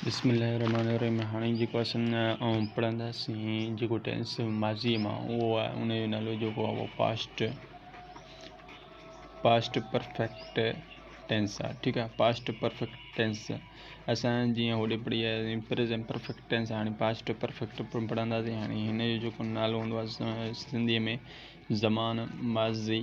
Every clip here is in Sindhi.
بسم الله الرحمٰن الرحيم هاڻي جيڪو اسان آئون پڙهنداسين جيڪو ٽينس ماضي مان اهو آهي ان جو نالو جيڪو آهي اهو پاسٽ پاسٽ پرفيڪٽ ٽينس آهي ٺيڪ آهي پاسٽ پرفيڪٽ ٽينس اسان جيئن هوڏي پڙهي آياسي پريزنٽ پرفيڪٽ ٽينس هاڻي پاسٽ پرفيڪٽ پڙهنداسين هاڻي هن جو جيڪو نالو هوندو آهي سنڌي ۾ زمان ماضي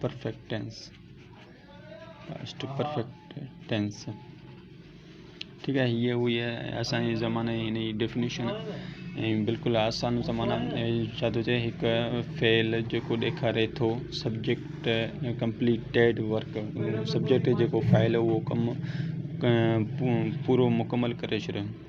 perfect tense past perfect tense ٺيڪ آهي هيء هئي اسانجي زماني هن جي ڊيفنيشن ۽ بلڪل آسان زمانا ڇا ٿو چئي هڪ فعل جيڪو ڏيکاري ٿو سبجيڪٽ ڪمپليٽيڊ ورڪ سبجيڪٽ جيڪو فعل اهو ڪم پورو مڪمل ڪري ڇڏيو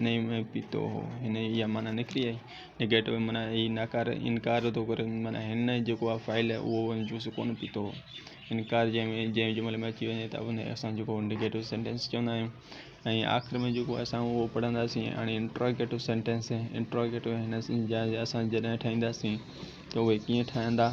انهيء ۾ پيتو هو. هن جي اها معنيٰ نڪري آهي. Negative معنيٰ هي نڪار ۽ انڪار ٿو ڪري. معنيٰ هن جيڪو اها فائل آهي اهو ان جوس ڪو نه پيتو هو. انڪار جنهن ۾ جنهن جملي ۾ اچي وڃي ته ان کي اسان جيڪو Negative Sentence چوندا آهيون ۽ آخر ۾ جيڪو اسان اهو پڙهنداسين هاڻي Interrogative Sentence Interrogative هن جا اسان جڏهن ٺاهينداسين ته اهي ڪيئن ٺهندا.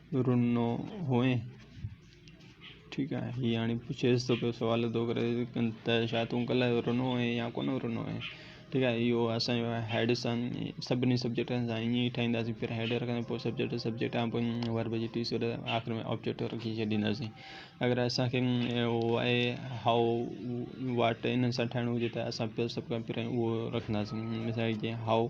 رنو هئين ٺيڪ آهي هي هاڻي پڇيس ٿو پيو سوال ٿو ڪري ته ڇا تون ڪلهه جو رنو هئين يا ڪونه رنو هئين ٺيڪ آهي اهو اسانجو هيڊ سان سڀني سبجيڪٽن سان ائين ئي ٺاهينداسين پهريان هيڊ رکنداسين پوء سبجيڪٽ سبجيڪٽ کان پوء ورب جي ٽي سر آخر ۾ آبجيڪٽ رکي ڇڏينداسين اگر اسانکي هو آهي هائو واٽ انهن سان ٺاهڻو هجي ته اسان پهريان سڀ کان پهريان اهو رکنداسين مثال جي هائو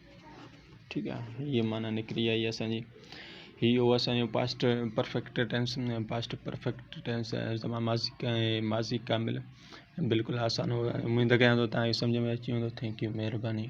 ٺيڪ آ هي معنيٰ نڪري آئي اسان جي هي هو اسان جو past perfect tense past perfect tense زمان ماضي ۽ ماضي ڪامل بلڪل آسان هو اميد ڪيان ٿو تان هي سمجهه ۾ اچي ويندو ٿينڪ يو مهرباني